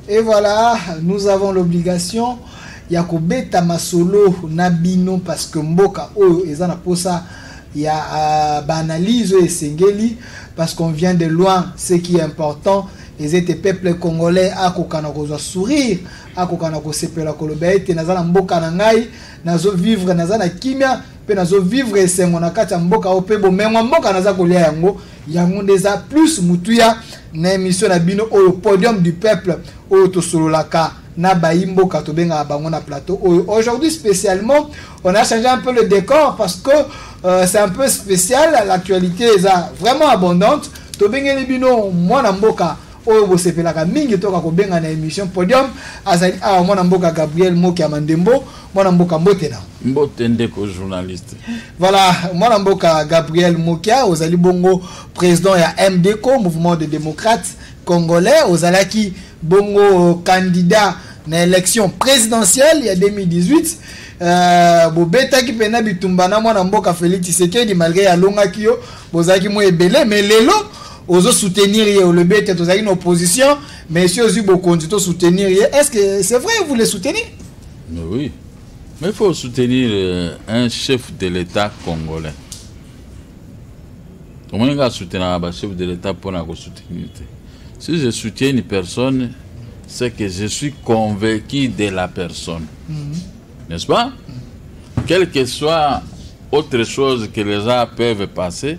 Et voilà, nous avons l'obligation ya kobeta masolo na bino parce que mboka oyo eza na posa ya euh, baanalyse oyo esengeli parce qu'on vient de loin ce qui est important ezete peuple congolais akokana kozwa sourire akoka na kosepela koloba ete naza na mboka na ngai nazo vivre naza na kimia mpe nazo vivre esengo na kati ya mboka oyo mpe bomengo ya mboka naza kolia yango yango nde eza plus motuya na emission na bino oyo podium du peuple oyo tosololaka na bayi mboka tobengaka bango na plateau oyo aujourd'hui spécialement on a changé un peu le décor parce que euh, c'est un peu spécial l'actualité eza vraiment abondante tobengeli bino mwana mboka oyo bosepelaka mingi toka kobenga na émission podium azali awa mwana mboka gabriel moki ya mandembo mwana mboka mbote na mbote ndeko journaliste voilà mwana mboka gabriel mokia ozali bongo président ya mdco mouvement de démocrate congolais ozalaki bongo candidat na élection présidentielle ya 2018 Euh, bobetaki mpena bitumba na mwana mboka félix tshisekedi malgré alongaki yo bozalaki mwa ebele mais lelo ozo soutenir ye olobi ete tozalaki na opposition mais esi ozwi bokonzi to soutenir ye est ce que c'est vrai vous le soutenir mais oui mais il faut soutenir euh, un chef de l'état congolais omoni nga asoutenaka bachef de l'état mpona kosoutenir te si je soutiens une personne c'est que je suis convaincu de la personne mm -hmm. n'est-ce pas mm -hmm. quelle que soit autre chose que les gens peuvent passer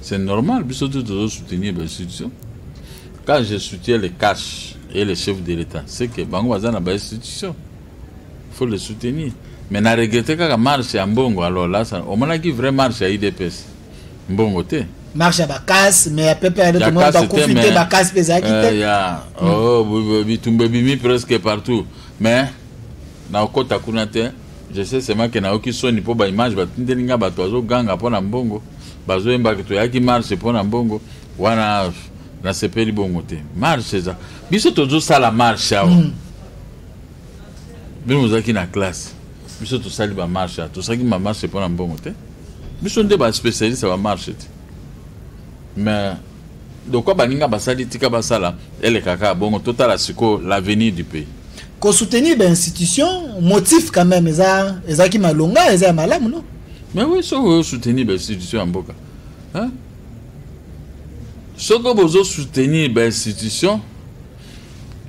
C'est normal, biso tout doit soutenir les institutions. Quand je soutiens les cash et les chefs de l'État, c'est que bango baza na ba institutions. Il faut les soutenir. Mais na regretter kaka marche ya mbongo alors là ça omonaki vraie marche ya IDPS. Mbongo te. Marche ya bakasi mais ya pepe ya ndoto mwa bakufi te bakasi mpe ezalaki te. Eh, ya oh bitumba bimi presque partout mais na okota kuna te. Je sais seulement que nayoki soni mpo ba image batindeli nga bato bazoganga mpo na mbongo bazoyemba ke toyaki marche mpo na mbongo wana nasepeli bongo te marche eza biso tozosala marche awa mm. bino bozalaki na classe biso tosali bamarche awa tosalaki bamarche mpo na mbongo te biso nde baspecialiste ya bamarche te mais lokola baninga basali tika basala eleka kaka bongo totala sikoyo l'avenir du pays kosoutenir bainstitution motif quand même eza ezalaki malonga eza ya malamu no mais oui soki oyosoutenir bainstitution ya mboka soki bozosoutenir bainstitution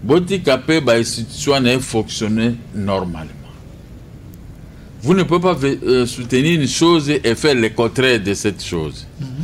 botika mpe bainstitution wana efonctionne normalement vous ne pouvez pas euh, soutenir une chose et faire le contraire de cette chose mm -hmm.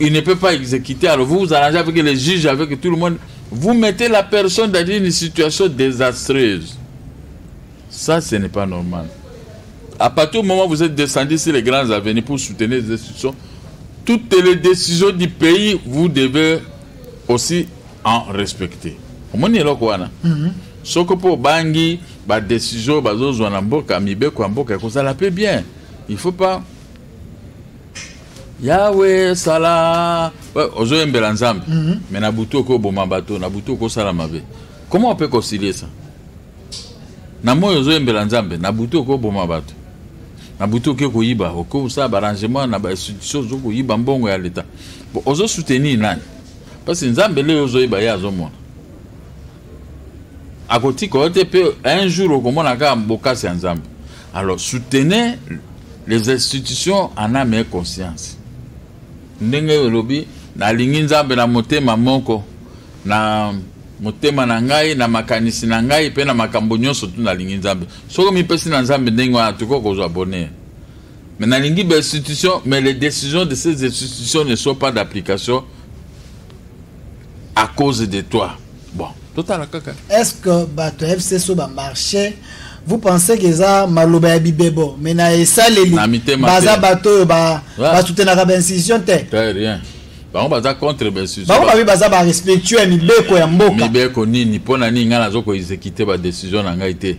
il ne peut pas exécuter. Alors vous vous arrangez avec les juges, avec tout le monde. Vous mettez la personne dans une situation désastreuse. Ça, ce n'est pas normal. À partir du moment où vous êtes descendu sur les grands avenues pour soutenir les institutions, toutes les décisions du pays, vous devez aussi en respecter. omoni eloko wana mhm. soki mpo obangi badesizio bazozwa na mboka mibeko ya mboka ekozala mpe bien il faut pas yawe sala ozoyembela nzambe mm -hmm. me na butu okoboma bato na butu okosala mabe comment on peut concilier ça na moi ozoyembela nzambe na butu okoboma bato na butu oke koyiba okosala baarrangement na bainstitution ozokoyiba mbongo ya leta bon ozosoutenir nani parce nzambe leo ozoyeba ye azomona akotika yo te mpe un jour okomona kaka bokasi ya nzambe alors soutenez les institutions en ame et conscience ndenge olobi nalingi nzambe na motema moko na motema na ngai na makanisi na ngai mpe na makambo nyonso tu nalingi nzambe soki omipesi na nzambe ndenge wana tokoki kozwa bonheur mais nalingi bainstitution mais les décisions de ces institutions ne sont pas d'application à cause de toi bon totala kaka est ce que bato ya fcso bamarche vous pensez que eza maloba ya bibebo mais na esaleli baza bato oyo basutenaka baincision te rien bango baza contre baincision bango babi baza barespectueux ya mibeko ya mboka mibeko nini mpo na nini ngai nazo koexekite badecision na ngai te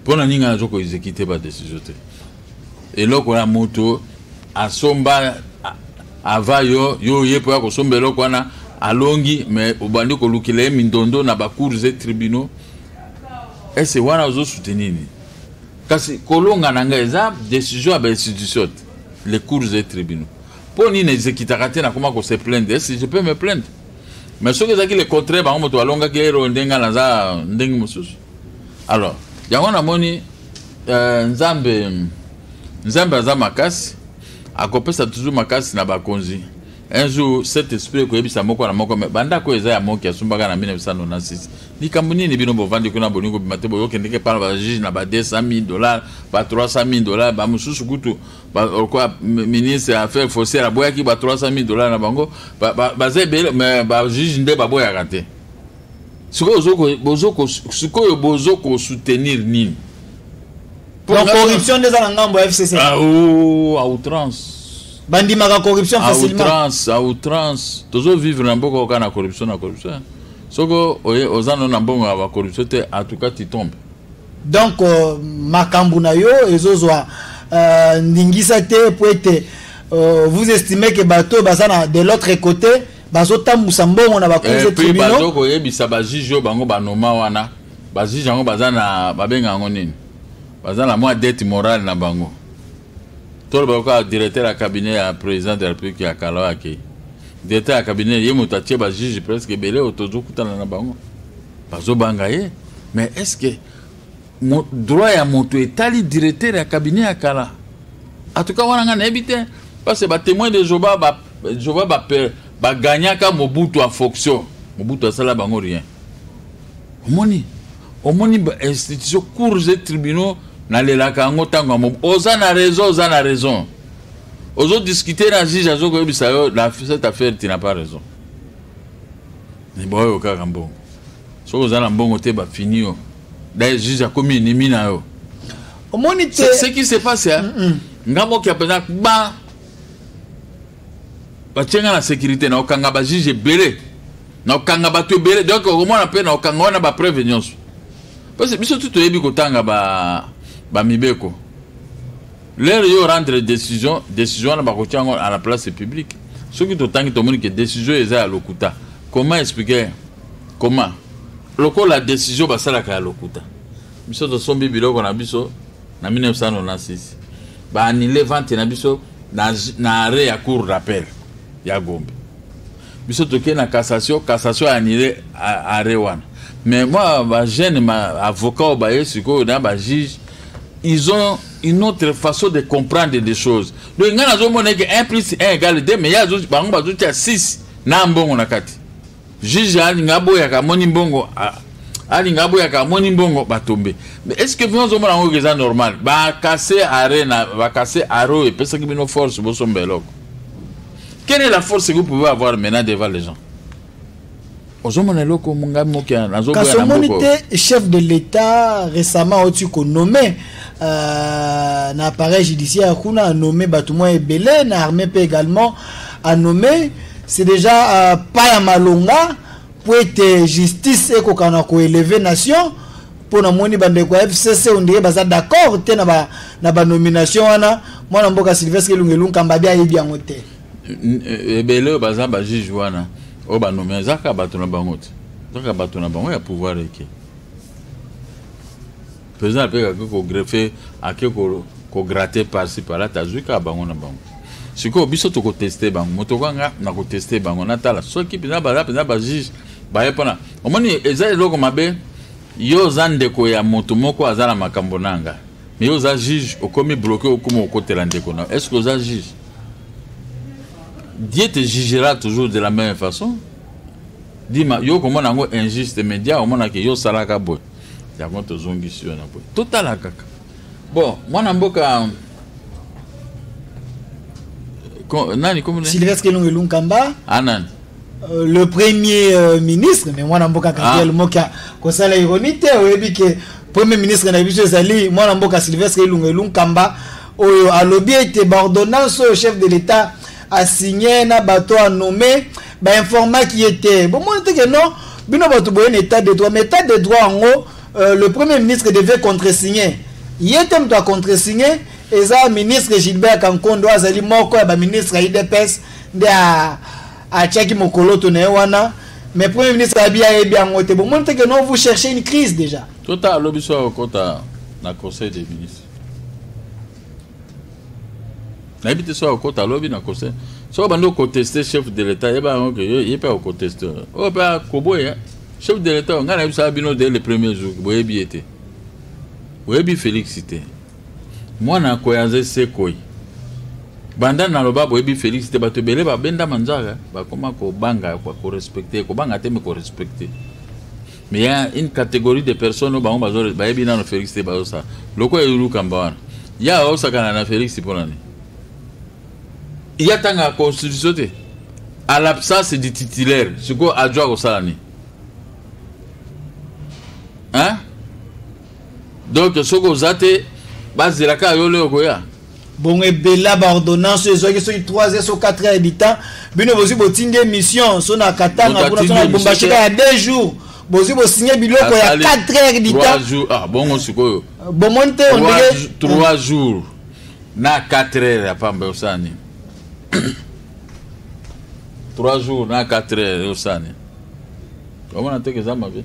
mpo na nini ngai nazo koexekite badecision te eloko ya moto asomba ava yo yo oye mpo ya kosomba eloko wana alongi me obandi kolukela ye mindondo na bacours e tribunaux ese wana ozosoutenir nini kasi kolonga na ngai eza décision ya bainstitution te les cours e tribunaux mpo nini ezekitaka te nakoma kose plainte ese je peux me plainte mais soki ezalaki le contraire bango moto balongaki ero ndenge naza ndenge mosusu alors yango namoni euh, nzambe nzambe aza makasi akopesa toujours makasi na bakonzi un jour cet esprit ekoyebisa moko na moko me bandako eza ya moki asumbaka na 1996 likambo nini bino bovandi kuna bolingi kobima te boyokendeke mpana bajuge na ba 200 000 dollars ba 300 000 dollars bamosusu kutu lokola ministre ya affaire foncière aboyaki ba 300 000 dollars na bango baza ebele me bajuge nde baboyaka te sikoyo bozo kosoutenir nini donc corruption nde eza na ngambo ya fcc ah, oh, à outrance bandimaka corruption facilementrance à outrance tozo vivre na mboka oka na corruption na corruption soko oza no na mbongo ya bacorruption te en tout cas tu tombe donc euh, makambo na yo ezozwa euh, ndingisa te po ete euh, vous estimez que bato baza na de l'autre côté bazotambusa mbongo na bakuze eh, tribunal bazo koyebisa bajuge oyo bango banoma wana bajuge yango baza na babenga yango nini baza na mwa dette morale na bango toloba kaka directeur ya cabinet ya président de la république ya kala oyo akei directeur ya cabinet ye moto atie bajuge presque ebele oyo tozokutana na bango bazobanga ye mais est ce que Mo, droit ya moto etali directeur ya cabinet ya kala atuka wana ngai nayebi te parce ba témoin de jehova ba jehova ba bagagnaka mobutu en fonction mobutu asala bango rien omoni omoni bainstitution cours et tribunaux nalelaka yango ntango ya mobu oza na raison oza na raison ozodiscute na juge azokoyebisa yo na cette affaire tu na pas raison liba oyo kaka mbongo soki oza na mbongo te bafini yo daye juge akomi enemi na yo omoni te ce qui se passe mm -mm. nga mokia mpenza ba batie nga na sécurité na okanga bajuge ebele na okanga bato ebele donc okomona mpe na okanga wana bapreuve nyonso parce biso tu toyebi kotanga bamibeko ba lere yo rendre décision décision wana bakoki yango à la place publique soki totangi tomoni ke décision eza ya lokuta comment expliquer comment lokola décision basalaka ya lokuta biso tosombi biloko na biso na 1996 baanile vente na biso na, na arret ya cour d'appel ya gombe biso tokei na cassation cassation anile arret wana mais moi bajeune avocat oyo baye sikoyo na bajuge ils ont une autre façon de comprendre des choses donc ngai nazomona eke 1 plus 1 égale 2 mais ye bango bazotia 6 na mbongo na kati juge alinga aboyaka amoni mbongo alinga aboyaka amoni mbongo batombe mais est ce que bino ozomona yango eza normal bakase arena bakase aro epesaki bino force bosomba eloko Quelle est la force que vous pouvez avoir maintenant devant les gens ozomona eloko ngai moke nazokasi omoni te chef de l'état récemment oti konome euh, na appareil judiciaire kuna anome bato mwa ebele na armée mpe également anome c'est déjà euh, pas ya malonga mpo ete justice ekokana koeleve nation mpo namoni bandeko ya fcc ondire baza d'accord te na banomination wana mwana mboka sylvestre elunga elunkamba abi ayebi yango te eh, ebele oyo baza bajuge wana oyo banomina eza kaka bato na bango te eza kaka bato na bango ya pouvoir eke président apeka ake kogreffe ake kograte parci pala tazwi kaka bango na bango sikoyo biso tokoteste bango moto kwanga nakoteste bango natala soki mpenza baza mpenza bajuge baye mpona omoni eza eloko mabe yo oza ndeko ya moto moko aza na makambo na nga me yo oza juge okomi bloke okoma okotela ndeko na est ce que oza juge dieu te jugera toujours de la même façon dima yo okomona yango injuste mais dia omonake yo osalaka boye yango tozongisi yo na boye totala kaka bon mwana mboka nani kombo sylvestre elongo elunkamba anani ah, Euh, le premier euh, ministre mais mwana mboka gabriel ah. mokia kosala ironi te oyebi ke premier ministre na biso ezali mwana mboka sylvestre elunga elunkamba oyo alobi ete baordonnance oyo chef de l'état asigne na bato anome bainformaki ye te bomoni te ke non bino bato boye na état de droit mais état de droit yango euh, le premier ministre devait contresigne ye te moto acontresigne eza ministre gilbert kankondo azali moko ya baministre ya idps nde atiaki mokoloto na ye wana mais premier ministre abi ayebi yango te bomoni te que non vous cherchez une crise déjà tota alobi so akokota na conseil des ministres nayebi te so akokota alobi na conseil soki bandi okoteste chef de l'état yeba yango ke ye mpe akoteste oyo mpe akoboya chef de l'état ngai nayebisaka bino de le premier jour boyebi ye te boyebi félix te Mwana ya koya nze se koi. Banda naloba boyebi Felix te bato ebele babenda manzaka bakoma kobanga korespecte kobanga te me korespecte mais ya une catégorie de personnes oyo bango bayebi nano Felix te bazosala lokola elukamba wana ya baosakana na Felix mpo na nini ya tanga constitution te à l'absence du titulaire sikoyo ajo akosala nini hein donc soki oza te bazela kaka yo leo koya bongo ebela baordonnance oyo ezwaki soki 3 heures so 4 heures du temps bino bozwi botindi émission so na katanga kuna so na bombashika ya 2 jours bozwi bosinye biloko ya 4 heures du temps ah, bongo sikoyo euh, bomoni te ondenge 3 jours na 4 heures ya pamba osala nini 3 jours na 4 heures osala nini omona teke eza mabe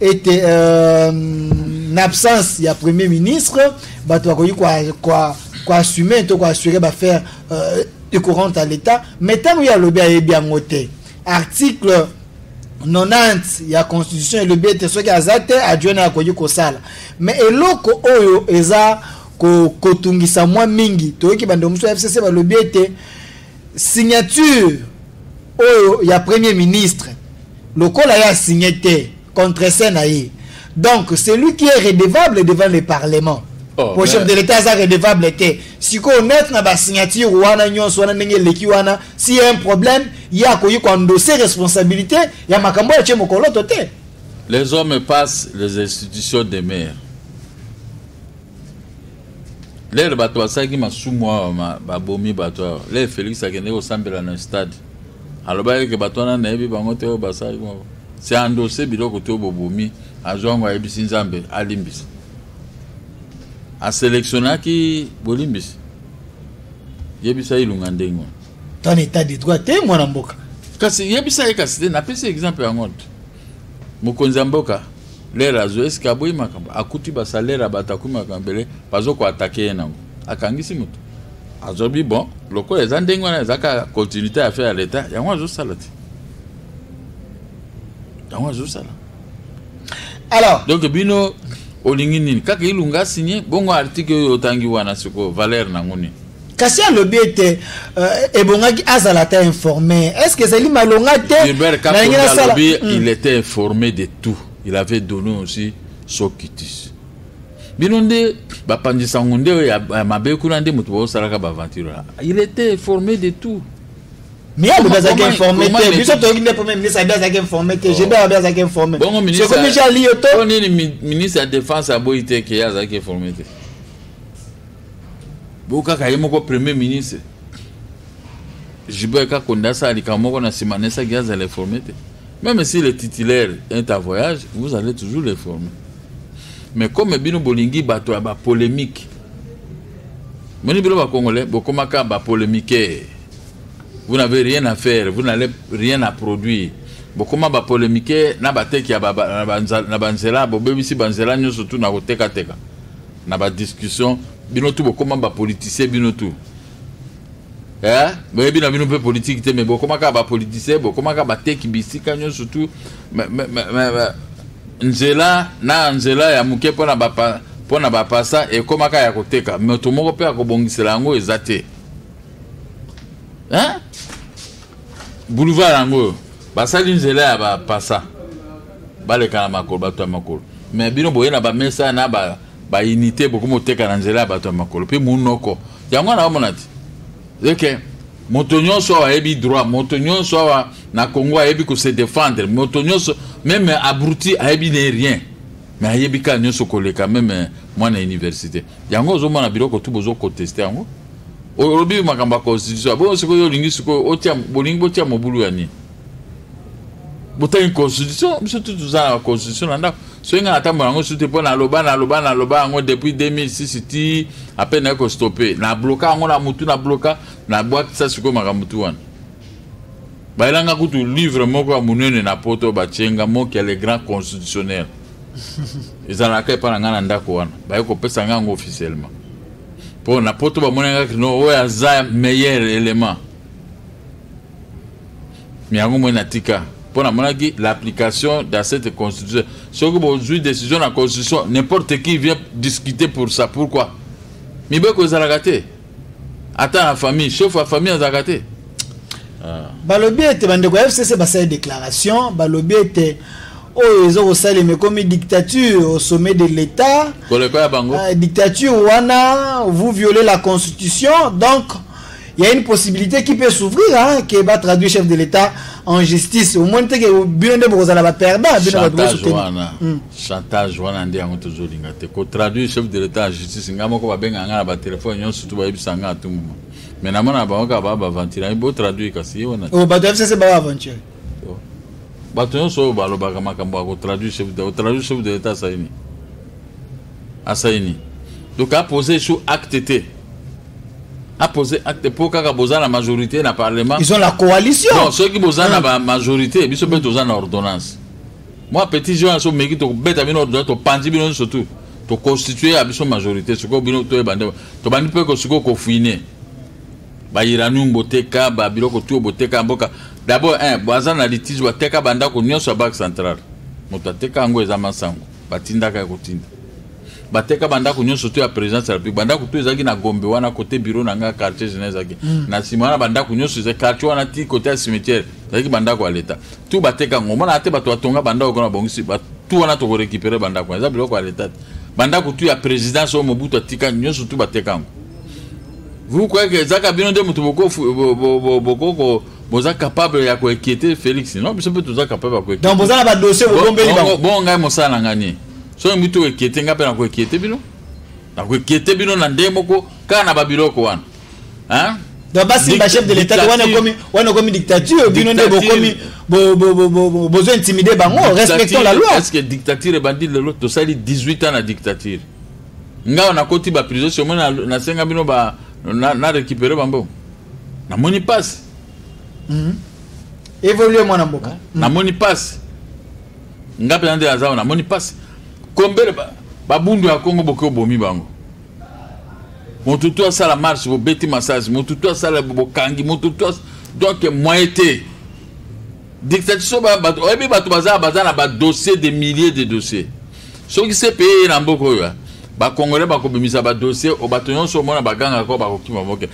ete euh, na absence ya premier ministre bato bakoki koassume to koassure bafaire euh, ecourante ya l'état mais ntango ye alobi ayebi yango te article 90 ya constitution elobi ete soki aza te adjoint akoki kosala mais eloko oyo eza kotungisa mwa mingi toyoki bandeko mosusu ya fcc balobi ete signature oyo ya premier ministre lokola ye asigne te contrese na ye donc celui qui est redevable devant le parlement oh, po chef de l'état aza redevable te sikoyo neutre na basignature wana nyonso wana ndenge eleki wana si ya un problème ye akoki koendose responsabilité ya makambo oyo atie mokoloto te les hommes passent les institutions demeurent lele bato basalaki masumu awa babomi bato awa lele felix akendeki kosambela na stade alobaki eke bato wana nayebi bango te oyo basalaki bango se andose biloko te oyo bobomi azwa yango ayebisi nzambe alimbisa aselektionaki bolimbisi yebisa ilunga ndenge wana tana etat de droit te mwana mboka kasi yebisa ye kasi te napesi exemple yango te Mokonzi ya mboka lere azwi eske aboyi makambo akuti basalere ya bato akomi makambo ebele bazo koatake ye nango akangisi moto azobi bon lokola eza ndenge wana eza kaka continuité ya affaire ya leta yango azosala te yango azosala alors donc bino olingi nini kaka ilunga signe bongo article oyo otangi wana sikoyo valeur nango nini kasi alobi ete euh, ebongaki azala ata informe est ce que ezali malonga te nalingi nasala hmm. il était informé de tout il avait donné aussi sokitis bino nde bapanzi sango nde oyo ya mabe kuna nde moto baosalaka baaventure wana il était informé de tout mais alobi azalaki informé te biso toyoki nde premier ministre abi azalaki informé te jebe abi azalaki informé sokomi jali yo to nini ministre ya défense aboyi te ke ye azalaki informé te bo kaka ye moko premier ministre Gilbert Kakonde asala likambo moko na nsima nesaki azala informe te même si le titulaire est à voyage vous allez toujours le former mais comme bino bolingi bato ya bapolémique moni bino bacongolais bokomaka bapolémiquer vous n'avez rien à faire vous n'allez rien à produire bokoma bapolémiquer na bateki na banzela bobebisi banzela nyonso tu na kotekateka na ba discussion bino tu bokoma ba politicien bino tu eh? boyebi na bino mpe politiki te me bokoma kaka bapolitisien bokoma kaka bateki bisika nyonso tu nzela na nzela ya moke mpo na bapa mpo na bapasa ekomaka ya koteka moto moko mpe akobongisela yango eza te boulevard yango oyo basali nzela ya bapasa baleka na makolo bato ya makolo me bino boye na bamesa na bainite bokomi oteka na nzela ya bato ya makolo mpe monoko yango wana omona te eke moto nyonso awa ayebi droit moto nyonso awa na congo ayebi kose défendre moto nyonso meme abruti ayebi ne rien me ayebi kaka nyonso koleka meme mwana ya université yango ozomona biloko tu bozoconteste yango olobi makambo ya constitution bongo sikoyo olingi sikoyo bolingi botia mobulu ya nini botangi constitution biso tu toza na constitution na ndako soki ngai natambola yango su te mpo naloba naloba naloba yango depuis 2006 ti ape naye kostope nabloka yango na motu nabloka nabwakisa sikoyo makambo tu wana bayelanga kutu livre moko ya monene na poto batye nga moki ya le grand constitutionnel ezalaka epai na ngai na ndako wana baye kopesa ngai yango officiellement mpo na poto bamonaki no oyo aza meilleur élément mais yango moi natika mpo namonaki l'application dans cette constitution soki bozwi décision na constitution n'importe qui vient discuter pour ça pourquoi mibeko ezalaka te ata na famille chef ya famille azalaka te ah. balobi ete bandeko ya fcc basali déclaration balobi ete oyo eza kosalema ekomi dictature au sommet de l'état koleka ya bango euh, dictature wana vous violez la constitution donc Il y a une possibilité qui peut s'ouvrir, hein, qui va traduire chef de l'État en justice. Au moins, tu que bien de vous la perdre. Chantage wana. Hmm. Chantage wana ndi yango tozo linga te. Ko traduire chef de l'État en justice ngamo ko ba benga ngana ba téléphone yon surtout ba yebisa ngana tout moment. Mais na mona ba waka ba ba ventira bo traduire kasi wana. Oh ba doivent se ba aventure. Oh. Bato nyonso oyo balobaka makambo ya kotraduire chef de l'État, kotraduire chef de l'État asali nini asali nini donc apose sur acte te apose acte mpo kaka boza na majorité na parlement ils ont la coalition non soki boza na ah. majorité biso mpe toza na ordonnance mwa petit jeune aso meki tokobeta bino ordonnance topanzi bino nyonso tu toconstitue ya biso majorité sikoyo bino toyeba nde tobandi mpe kosikoyo kofuine bairanium boteka babiloko tuyo boteka ya mboka dabord baza na litige bateka bandako nyonso ya banque centrale moto ateka yango eza masango batindaka ya kotinda bateka bandako nyonso to ya présidence ya république bandako to ezalaki na gombe wana côté bureau na ngai quartier général ezalaki mm. na nsima wana bandako nyonso ezalaki quartier wana ti côté ya cimetière ezalaki bandako ya leta tu bateka yango omonaka te bato batonga bandako kuna babongisi tu wana tokorécupere bandako wana eza biloko ya leta te bandako tu ya présidence oyo mobutu atika nyonso tu bateka yango vous croyez que ezaka bino nde moto boko boza capable ya koinquiete félix non biso mpe toza capable ya koinquiete donc boza na badossier bobombeli bango bongo ngai mosala na ngai nini soki mbi tokoinquiete ngai mpe nakoinquiete bino nakoinquiete bino na ndenge moko kaka na babiloko wana hein donc basimba chef de l'état wana ekomi wana ekomi dictature bino nde bokomi bozo intimide bango respectons la loi est ce que dictature ebandi lelo tosali 18 ans na dictature ngai nakoti baprison somo nasenga bino na récupere bambongo namoni pasi mm. evolue mwana mboka mm. namoni pasi nga mpenza nde naza namoni pasi kombele babundu ya kongo boke obomi bango moto tu asala marche bobeti massage moto tu asala bokangi moto tu donc moye te dictature bato oyebi bato baza baza na badossier de milliers de dossier soki se peye ye na mboka oyo bakongole bakobimisa badossier o bato nyonso omona bagangaka bakokima moke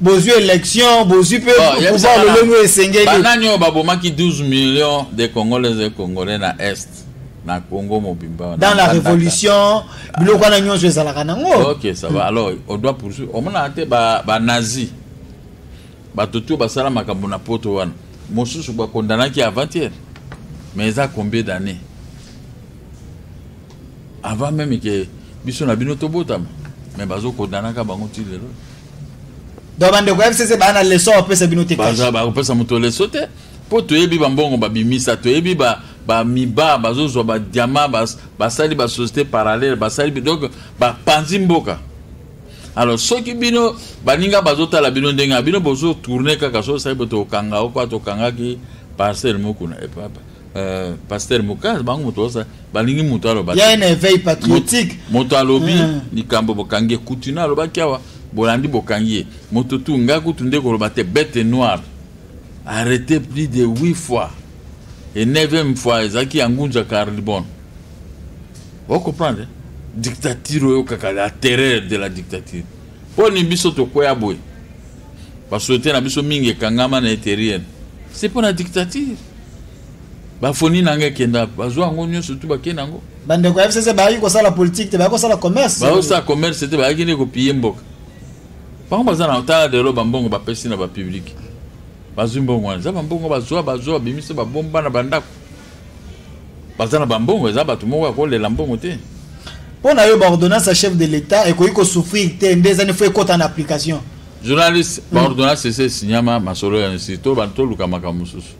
bozwi élection bozwi mpe oh, pouvoir lolenge oyo esengeli banani oyo babomaki 12 millions de congolais et congolais na est na congo mobimba dans la révolution biloko wana nyonso ezalaka nango ok ça va alors odoit poursuivre omonaka te banazi bato to basala makambo na poto wana mosusu bakondanaki avant-hier mais eza combien d'année avant meme ke biso na bino tobotama me bazokodanaka bango ti lelo donc bandeko ya fcc baa na leso bapesa bino te bakopesa moto leso te mpo toyebi bambongo babimisa toyebi ba bamiba bazozwa badiama basali basociété parallèle basali donc bapanzi mboka alors soki bino baninga bazotala bino ndenge bino bozotourne kaka soki osali bo tokanga okwa tokangaki parcelle mokuna epapa Euh, pasteur moka bango moto osa balingi moto aloba ya na éveil patriotique moto alobi hmm. likambo bokangi ye kutu na alobaki awa bolandi bokangi ye moto tu ngai kutu nde koloba te bete noire arrete plus de 8 fois e 9e fois ezalaki ya ngunza carlibon ocomprendre dictature oyo kaka la terreur de la dictature mpo ni biso tokweya boye basosiete na biso mingi ekangama na eterienne se mpo na dictature bafoni na ngai ekenda bazwa yango nyonso tu bakei na yango bandeko ya fcc bayaki kosala politike te bayaki kosala commerce bayaki kosala commerce te bayaki nde kopiye mboka bango baza na tala lelo bambongo bapesi na bapublike bazwi mbongo wana eza bambongo bazwa bazwa babimisi babomba na bandako baza na bambongo eza bato moko ya kolela mbongo te mpo na yo baordonnance ya chef de l'état ekoki kosouffrir te nde ezani fo ekota na application journaliste mm. baordonnance esi esinyama masolo ya nsi to bantu toluka makambo mosusu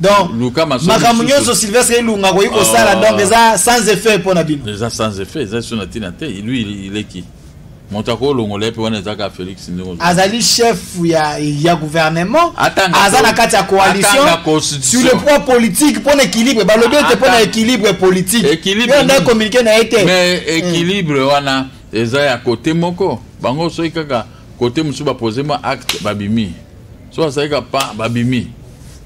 donc makambo nyonso sylvestre elunga akoki kosala oh. donc eza sans effet mpo na bino eza sans effet eza so na ntina te lui ileki moto akolongola ye mpe wana eza kaka félix ndenge azali chef ya, ya gouvernement aza na kati ya coalition sur le point politique mpo na équilibre balobi ete mpo na équilibre politique yo nde communiqué na ye te mais hmm. équilibre wana eza ya kote moko bango soki kaka kote mosusu bapose mwa acte babimi so azali kaka pa babimi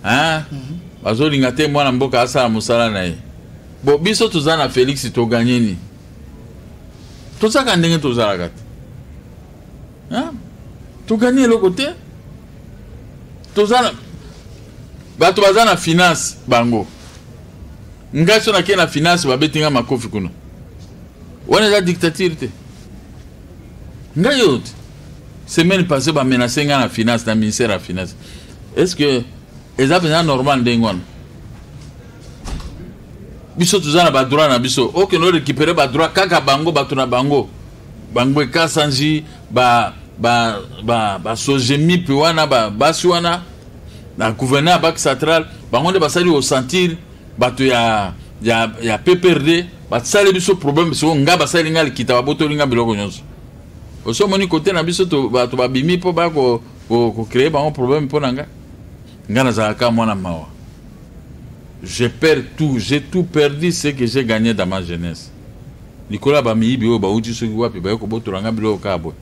hmm. bazolinga te mwana mboka asala mosala na ye bo biso toza na félix toganye nini tozalaka ndenge tozalaka te togani eloko te tozala bato baza na finance bango ngai so nakei na finance babeti ngai makofi kuna wana eza dictature te ngai yo te semaine passé bamenace ngai na finance na ministère ya finance est ce que eza mpenza normal ndenge wana biso toza na badroit na biso okende orekipere badroit kaka bango bato na bango bango ekasanji ba ba ba basojemi mpe wana basi wana na gouverneur ya bak central bango nde basali osentir bato ya, ya, ya pprd basali biso problème soko nga basali nga likita babotoli nga biloko nyonso osi omoni kote na biso bato babimi mpo baya kocreye bango problème mpo na nga nga nazalaka mwana mawa je perds tout j'ai tout perdu ce que j'ai gagné dans ma jeunesse likolo ya bamiyibi oyo bauti soki wapi baye kobotola ngai biloko kaka boye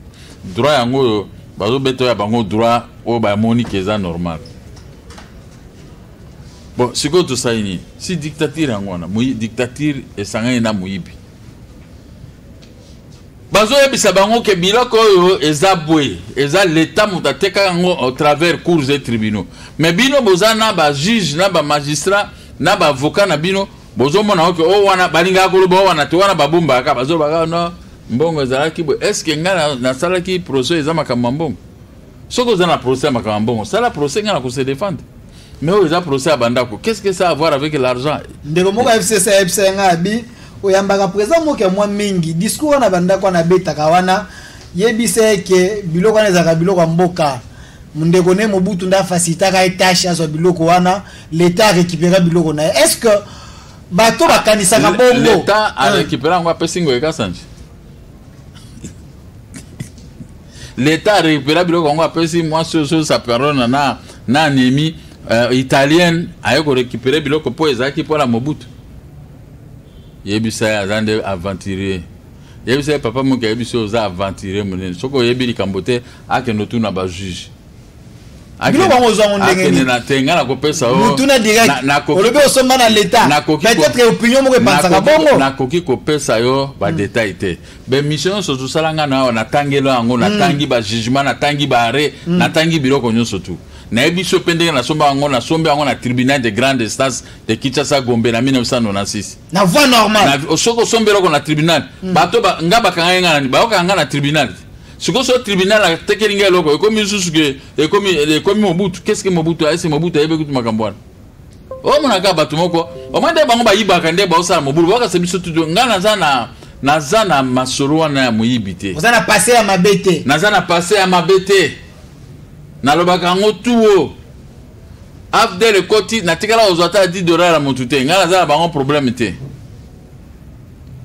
droit yango oyo bazobeta ya bango droit oyo bamoni ke eza normal bon sikoyo tosali nini si dictature yango wana dictature esangani na moyibi bazoyebisa bango ke biloko oyo eza boye eza leta moto ateka yango au travers cours et tribunaux mais bino boza na bajuge na bamagistrat na baavocat na bino bozomona oke o wana balingaka koloba o wana te wana babombaka bazolobaka no mbongo ezalaki boye estce ngai nasalaki proso eza makambo ya mbongo soki oza na procès ya makambo ya mbongo sala procès nga na ko se défendre mais oyo eza procès ya bandako qu'est ce que ça avoir avec l'argent ndeko moko fcc ayebisa nga abi oyambaka président moko ya mwa mingi discours wana bandako wana abetaka wana yebisa ye ke biloko wana ezalaka biloko ya mboka ndeko ne mobutu nde afacilitaka ye tâche azwa biloko wana leta arécupera biloko na ye est ce que bato bakanisaka bongo leta arécupera yango apesi ngoyekasanje leta arekupera biloko yango apesi mwasi oyo saperona na na anemi uh, eh, italienne aye korekupere biloko mpo ezalaki mpo na mobutu yebisa ye aza nde aventurier yebisa ye papa moki ayebisi oyo oza aventurier monene soki oyebi likambo te akende otuna bajuge biloko yango ozwa yango ndenge nini mutuna direktolobi osomba na leta peut-être opinion moko epansaka bongo nakoki kopesa yo badetail hmm. te bemission nyonso tosala ngai na awa natangelo yango hmm. natangi bajugement natangi baarret hmm. natangi biloko nyonso tu nayebi so mpe ndenge nasomba yango nasombi yango na tribunal de grande instance de kinshasa gombe na 1996 na voie normale soki osombi eloko na tribunal bato nga bakanga ye ngai nani bayokaka ngai na tribunal sikoyo so tribunal atekeli ngai eloko ekomi lisusu ke ekomi ekomi mobutu keske mobutu aese mobutu ayebi kutu makambo wana omonaka bato moko omoi nde bango bayibaka nde baosala mobulu bakasa biso tutu ngai naza na naza na masolo wana ya moyibi te oza na pase ya mabe te naza na pase ya mabe te nalobaka yango tuo afdel ekoti natikala kozwa ata 10 dollar ya motu te ngai naza na bango problème te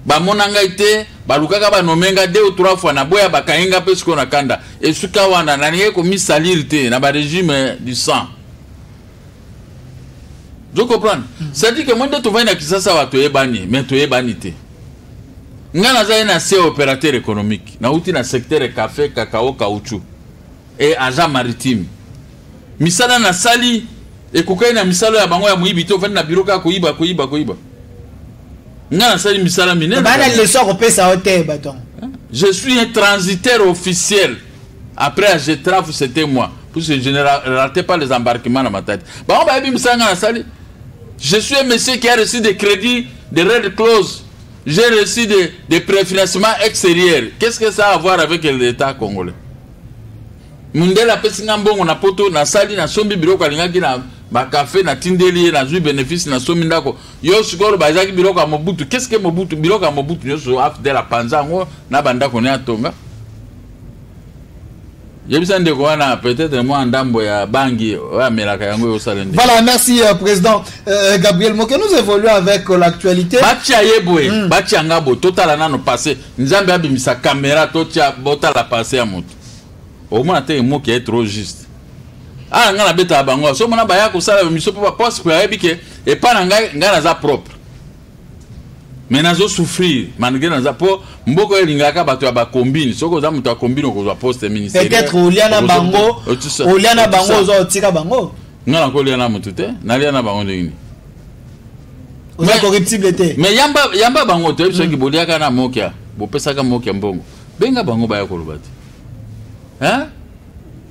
bamona ngai te balukaka banome nga deux ou trois fois naboya bakangi nga mpe sikoyo na kanda esuka wana nalingi komisalire te na baregime du sang zo comprendre mm. cetadire ke moi nde tovandi na kisasa awa toyebani me toyebani te ngai nazali na se opérateur économique nauti na secteur café cacao caoutchou e agent maritime Misala na sali ekokani na misala ya bango ya moyibi te ofandi na biro kaka koyiba koyiba koyiba nga nasali misala minene bana leso akopesa yo te baton je suis un transitaire officiel après à getraf c'était moi puisque je ne ratais pas les embarquements na matadi bango bayebi misala nga nasali je suis un monsieur qui a reçu des crédits de red close j'ai reçu des, des préfinancements extérieurs qu'est ce que ça a à voir avec l'état congolais Mundele apesi nga mbongo na poto nasali nasombi biloko alingaki na bakafe natindeli ye nazwi benefice nasombi ndako yo sikoyo bazalaki biloko ya mobutu keske mobutu biloko ya mobutu nyonso afdel apanza yango na bandako ne atonga yebisa ndeko wana peut-être mwa ndambo ya bangi oyo amelaka yango eyosala nde voilà merci euh, président euh, euh gabriel moke nous évoluons avec euh, l'actualité batya ye boye mm. batya nga boye totala nano passé nzambe abimisa caméra totya botala passé ya moto omona te emoki ya trop juste aa ah, ngai nabetaka bango so omona baya kosala miso mpo baposte mpo ayebi ke epai na ngai ngai naza propre me nazo souffrir malgré naza mpo mboka oyo elingaka bato ya bakombine soki oza moto ya kombine okozwa poste ministerielpeutêtre olia na bango olia na bango oza otika bango ngai nakolia na motu te nalia na bango ndenge nini oza corruptible te mais yamba, yamba bango toyebi soki mm. boliaka na mokia bopesaka mokia mbongo benga bango baya koloba te hein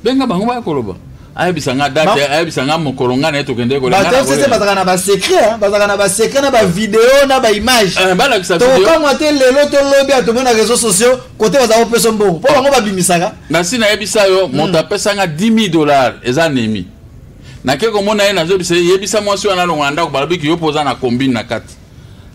benga bango baya koloba ayebisa nga date ayebisa nga mokolo nga na ye tokende kolengafcc bazalaka na basecret bazalaka na basecret na bavideo na baimage eh, tokokamwa te lelo to lobi ya tomona réseau sociaux kote bazala kopesa mbongo mpo bango babimisaka nasi nayebisa yo hmm. moto apesa nga 10 000 dollars eza nemi nake komona ye nazoyebisa ye yebisa mwasi wana alongola ndako balobi kiyo mpo oza na combine na kati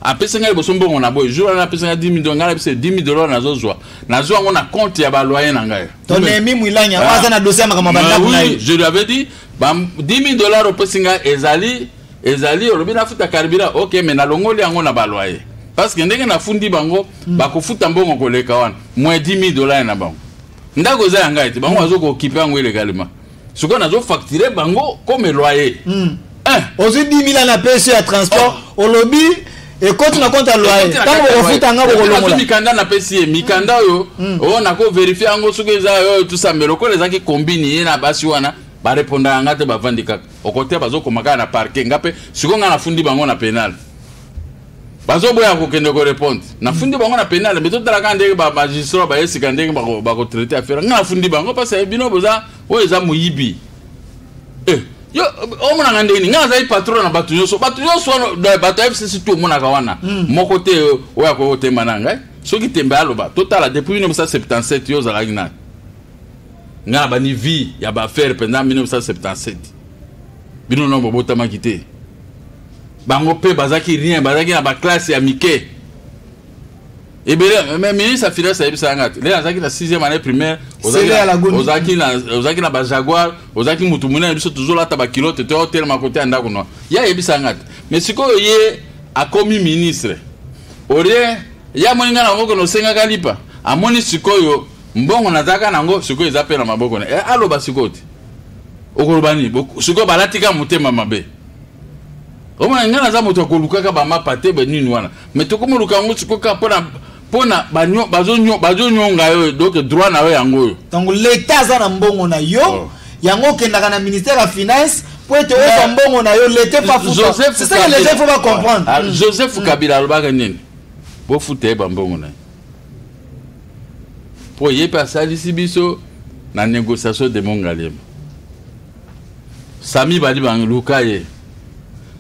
apesi ngai liboso mbongo na boye jour wana apesi ngai 10 dollars ngai napesa 10 dollars nazozwa nazwa yango na compte ya baloye na ngai tonemi mwilanya ah. aza na dossier ya makambo bandako na ye je lui avais dit 10 dollars opesi ngai ezali ezali olobi nafuta carburant ok mais nalongoli yango na baloye parce que ndenge nafundi bango hmm. bakofuta mbongo koleka wana moins 10 dollars na bango ndako eza ya ngai te bango bazokokipe yango ilegalement sikoyo nazo facture bango comme loyer mm. eh. ozwi 10 mila na pesi ya transport oh. olobi ekoti na compte ya loyer ntango bokofuta nga bokolongola mikanda napesi ye mikanda oyo mm. oyo oh, nakoverifie yango soki eza oyo tusambela lokola ezalaki kombini ye na basi wana barepondaka nga te bavandi kaka okote bazokoma kaka na parke nga mpe sikoyo nga nafundi bango na penale bazo boya kokende ko répondre nafundi bango na penal mais totala kaka ndenge ba magistrat baye sika ndenge bakotraite affaire nga nafundi bango parce que bino boza oyo eza moyibi eh, yo omonaka ndenge nini nga nazali patron na bato nyonso bato nyonso wana bato ya fcc tu omonaka wana hmm. moko te oyo akoki kotemba na ngai soki tembe aloba totala depuis 1977 yo ozalaki nani nga na bani vie ya baaffaire mpenza 1977 bino nongo bobotamaki te bango mpe bazalaki rien bazalaki na baklasse ya mike ebele mais ministre ya finance ayebisaka nga te lelo azalaki na 6e année primaire ozalaki na bajaguar ozalaki motu monene biso tozolata bakilote to otelema kote ya ndako noa ye ayebisaka nga te mais sikoyo ye akomi ministre olie ye amoni nga nango kende osengaka lipa amoni sikoyo mbongo nazalaka nango sikoyo eza mpe na maboko na eh, aloba sikoyo te okoloba nini sikoyo balatika motema mabe omona ngai naza moto ya kolukaka bamapa te banini wana mai tokomoluka yango sikoyo kaka mpona mpona bazonyonga yo donc droit na yo yango oyo donc leta aza na mbongo na yo oh. yango okendaka na ministère ya finance mpo ete ozwa mbongo na yo leta epafusaeke leta ifo bacomprendre ah, joseph mm. kabila alobaka nini bofuta ye bambongo na ye mpo ye mpe asalisi biso na négociation de mongalema sami badi bangi luka ye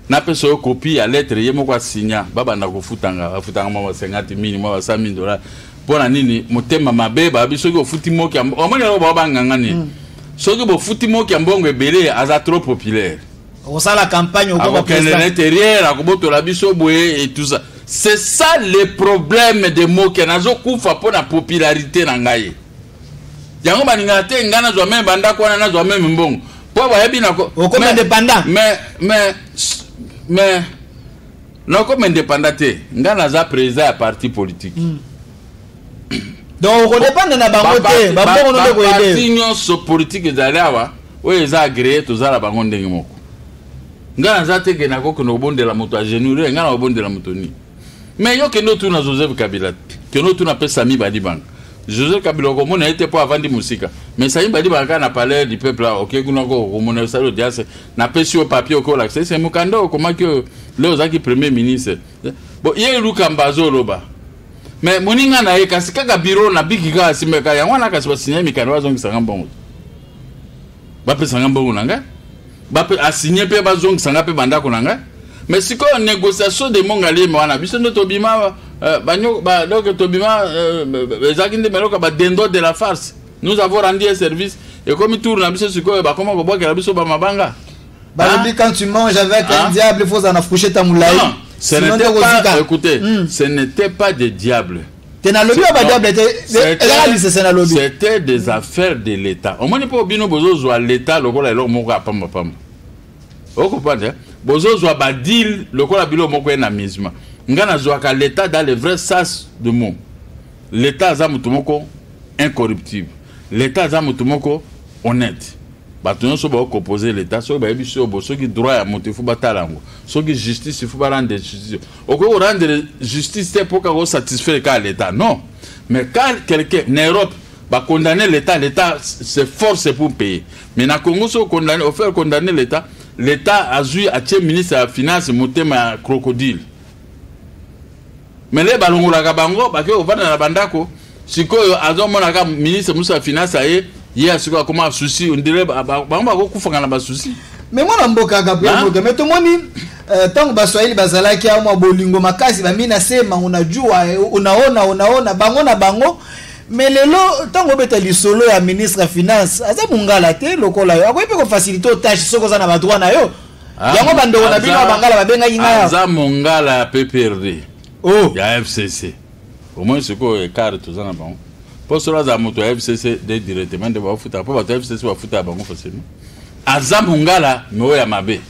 napesa yo kopi ya lettre ye moko asinya babanda kofutanga bafutanga mwa basengati mini mwa basa mini dola mpo na nini motema mabe babi soki ofuti moki omoni yango bao banganga nini mm. soki bofuti moki ya mbongo ebele aza trop populaire okosala campagne okokende na interieur akobotola biso boye etusa c'est ça le problème de moke nazokufa mpo na popularité na ngai yango balingaka te ngai nazwa meme bandako wana nazwa meme mbongo mpo bayebi nako okoma independant mais mais mais nakoma independant te ngai naza président ya parti politique mm. donc okodepanda na bango te bambongo no nde koyedeparti nyonso politike ezali awa oyo eza agreye toza na bango ndenge moko ngai naza te ke nakokende kobondela moto agenure ngai nakobondela moto nini mais yo kende otuna joseph kabila kende otuna mpe sami badibanga joseph kabila okomona ye te mpo avandi mosika mais sami badibanga kaka na palais du peuple awa okei kuna okomona osali audience napesi yo papier okoki olakisa ese mokanda okomaki oyo leo ozalaki premier ministre bo ye lukamba azoloba mais moninga na ye kasi kaka biro na biki kaka asimbaka yango wana kasi basinyai mikanda bazongisanga mbongo bapesanga mbongo na ngai asigne mpe bazongisa ngai mpe bandako na ngai mais sikoyo négociation de mongaliema wana biso nde tobima euh, donc tobima euh, ezalaki nde meloka badendo de la farce nous avons rendu un service ekomi tour na biso sikoyo bakoma kobwakela biso bamabanga balobi ah. quand tu manges avec un ah. diable faut ozala na fouchette ya molai ce n'était pas, écoutez, hmm. ce n'était pas des diables. te nalobi ya badiable te ezala lisese nalobi c'était des affaires de l'état omoni mpo bino bozozwa l'état lokola eloko moko ya pambapamba okopanda eh? bozozwa badile lokola bilo moko ye na misma ngai nazwaka l'état dans le vrai sas de mot l'état aza moto moko incorruptible l'état aza moto moko honnête bato nyonso baokopose l'état soki bayebi soki obo soki droit ya moto ifo batala yango soki justice ifo barendre justice okoki korendre justice te mpo kaka osatisfaire kaka l'état non mais quand quelqu'un na europe condamner l'état l'état se force pour payer mais na congo soki okondamne ofaire condamner l'état l'état azwi atie ministre ya finance motema ya crocodile mele balongolaka bango bake kovanda na bandako sikoyo azomona kaka ministre mosusu ya finance aye ye asikoyo akoma souci ondire bango bakokufaka na basusi me mwana mboka gabriel moto me tomoni ntango euh, baswahili bazalaki amwa bolingo makasi bamina se mango na jua unaona eh, unaona bango na bango me lelo ntango obeta lisolo ya ministre ya finance aza mongala te lokola yo akoki mpe kofasilite otache soki oza na badroit na yo ah, yango bandeko na bino ya bangala babengaki ngai aza mongala ya pprd oh. ya fcc au moins sikoyo ecart toza na bango mpo solo azala moto ya fcc de directement nde baofuta mpo bato ya fcc bafuta ya bango facilement aza mongala me oyo ya mabe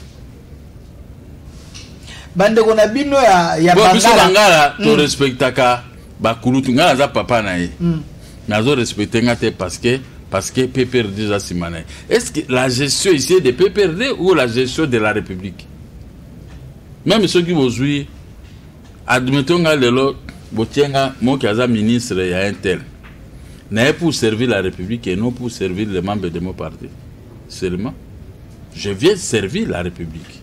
bandeko na bino ya, ya Bo, biso bangala mm. torespectaka bakulutu ngai naza papa na ye mm. nazo respecte nga te parce que parce que pprd eza nsima na ye est ce que la gestion ici de pprd ou la gestion de la république meme soki bozwi admettons nga lelo botie nga moki aza ministre ya intel naye pour servir la république et non pour servir les membres de mon parti seulement je viens servir la république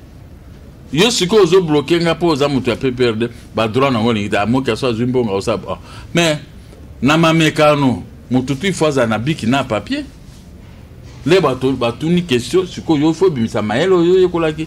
yo sikoyo ozobloke nga mpo oza moto ya pprd badroit nango olingi te amoki aso azwi mbongo aosa oh. mais na mamekano moto tu ifo azala na biki na papier nde batuni question sikoyo yo ifo obimisa mayele oyo oyekolaki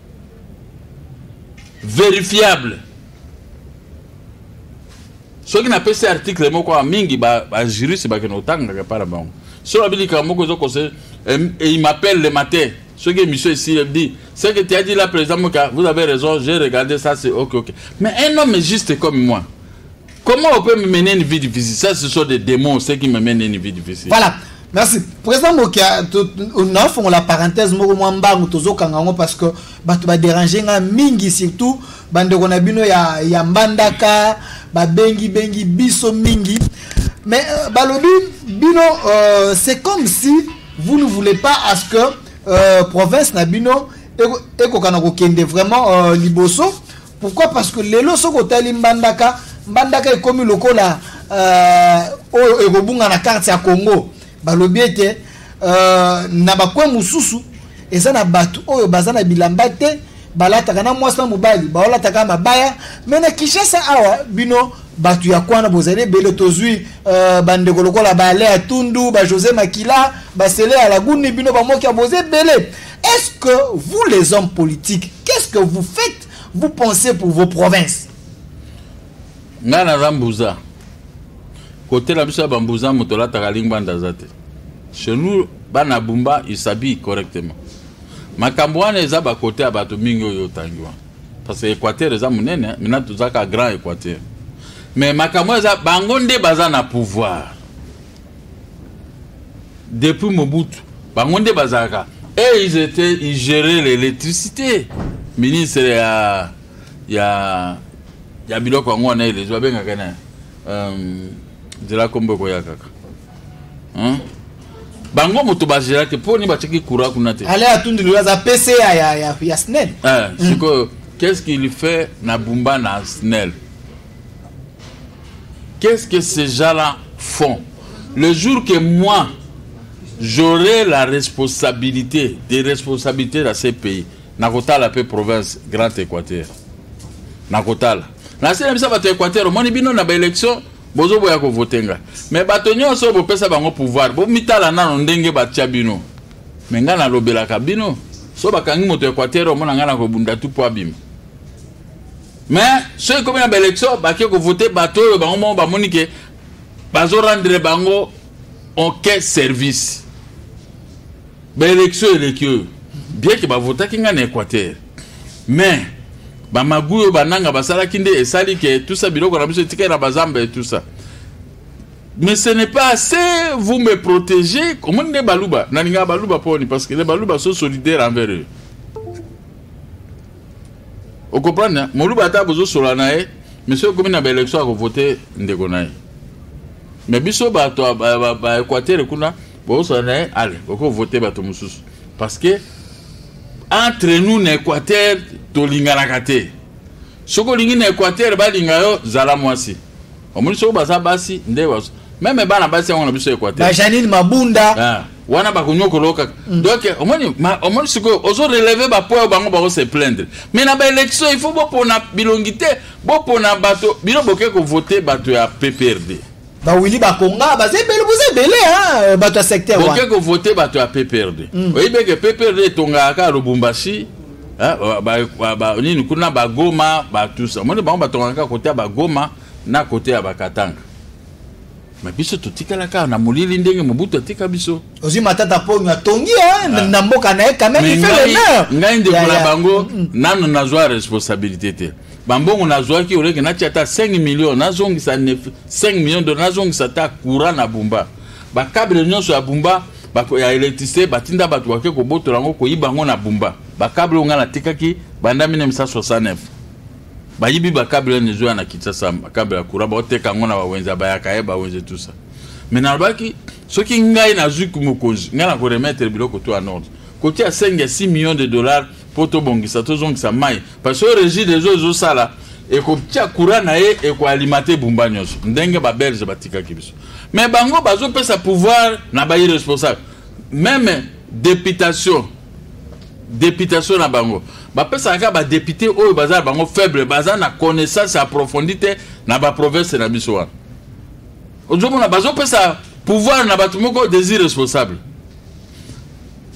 verifiable soki napesi article moko ya mingi bajuriste ba bakende kotangaka epai na bango soki babi likambo moko ezokose imapele le matin soki émission esili ebi ce que tu as dit là président moka vous avez raison j'ai regardé ça c'est ok ok mais un homme juste comme moi Comment on peut me mener une vie difficile Ça, ce sont des démons, ceux qui me mènent une vie difficile. Voilà. merci président mokia nafongola parenthèse moko mwa mbangu tozokanga yango parce que bato baderange nga mingi surtout bandeko na bino ya, ya mbandaka babengi bengi biso mingi mais euh, balobi bino euh, c'est comme si vous ne voulez pas à ce que euh, province na bino ekokana kokende vraiment euh, liboso pourquoi parce que lelo soki otali mbandaka mbandaka ekomi lokola euh, oyo euh, ekobunga na karte ya congo balobi ete euh, na bakwe mosusu eza na bato oyo baza na bilamba te balataka na mwasi na mobali baolataka mabaya me na kinshasa awa bino bato ya kwana bozali ebele tozwi uh, bandeko lokola baale ya tundu bajose makila basele ya laguni bino bamoki ya boza ebele Est-ce que vous les hommes politiques, qu'est-ce que vous faites, vous pensez pour vos provinces Nga naza mbuza. Kote na biso ya bambuza moto alataka lingbanda aza te. Chez nous, bana bumba, ils s'habillent correctement. Makambo wana eza ba kote ya bato mingi oyo otangi wana. Parce que Equateur eza monene, mina tozaka grand Equateur. Mais makambo eza bango nde baza na pouvoir. depuis mobutu bango nde bazalaka et eh, ils étaient ils géraient l'électricité ministre ya ya ya biloko yango wana elezo babengaka na euh, nzela kombo ekoya kaka hein? bango moto bazela te mpo nini batiaki courant kuna te ale atundi loyo aza pca ya, ya, ya, ya snel eh, sikoyo qu'est ce qu'il fait na bumba na snel Qu'est-ce que ces gens-là font Le jour que moi, j'aurai la responsabilité, des responsabilités dans ces pays, nakotala mpe province grand équateur nakotala nase na biso bato ya équateur omoni bino na baélection bozoboya kovote ngai me bato nyonso oyo bopesa bango pouvoir bomitala nano ndenge batya bino me ngai nalobelaka bino so bakangi moto ya équateur omona ngai nakobunda tu mpo abima mais soki ekomi na baélection bake kovote bato oyo bango moko bamoni ke bazorendre bango aucun service baélection eleki oyo bien ke bavotaki ngai na équateur mais bamagu oyo bananga basalaki nde esali ke tusa biloko na biso etikali na bazamba e tusa mais ce n'est pas assez vous me protégez omoni nde baluba nalingaka baluba mponi parce que nde baluba so solidaire envers eux okoprendre moluba ata bozosola na ye mais soki ekomi na baélection akovote ndeko na ye mais biso bato ya équateur kuna bozosola na ye ale okovote bato mosusu parce que entre nous na équateur tolinganaka te soki olingi na équateur balinga yo zala mwasi omoni soki baza basi nde bazo meme bana basi yango na biso ekwate bajanine mabunda ah, wana bakonyokola kaka mm. donc omoni omoni sikoyo ozo releve bapo oyo bango bako se plaindre mais na baélection il faut bopona bilongi te bopona bato bino boke kovote bato ya pprd bawili bakonga baza ebele boza ebele eh, bato ya secteur wana boke kovote bato ya pprd mm. oyebi eke pprd etongaka kaka lubumbashi eh, nini kuna bagoma batusa moni bango batongaka kaka kote ya bagoma na kote ya bakatanga ma biso totikala kaka na molili ndenge mobutu atika biso ozwi matata ponyo atongi eh, ah. na mboka na ye quand même il fait l'honneur ngai ndeko na bango mm, mm. nano nazwa responsabilité te bambongo nazwaki oleke natia ata 5 million nazongisa 5 million dola nazongisa ata courant na bumba bakable nyonso ya bumba ya electricité batinda bato bake kobotola yango koyiba yango na bumba bakable oyo ngai natikaki banda 1969 bayibi bakable ene ezoya na kinshasa bakable ya courant baoteka yango na bawenze ya bayaka ye bawenze tusa me nalobaki soki ngai nazwi mokonzi ngai nakoremetre biloko to ya nord kotia 5 ya 6 million de dollars mpo tobongisa tozongisa mai parce que régie des eaux ezosala ekotia courant na ye ekoalimate ebumba nyonso ndenge babelge batikaki biso mais bango bazopesa pouvoir na bairresponsable meme députation députation na bango bapesaka kaka badepute oyo baza na bango faible baza na connaissance approfondie te na baprovince na biso wana ozomona bazopesa pouvoir na bato moko des irresponsables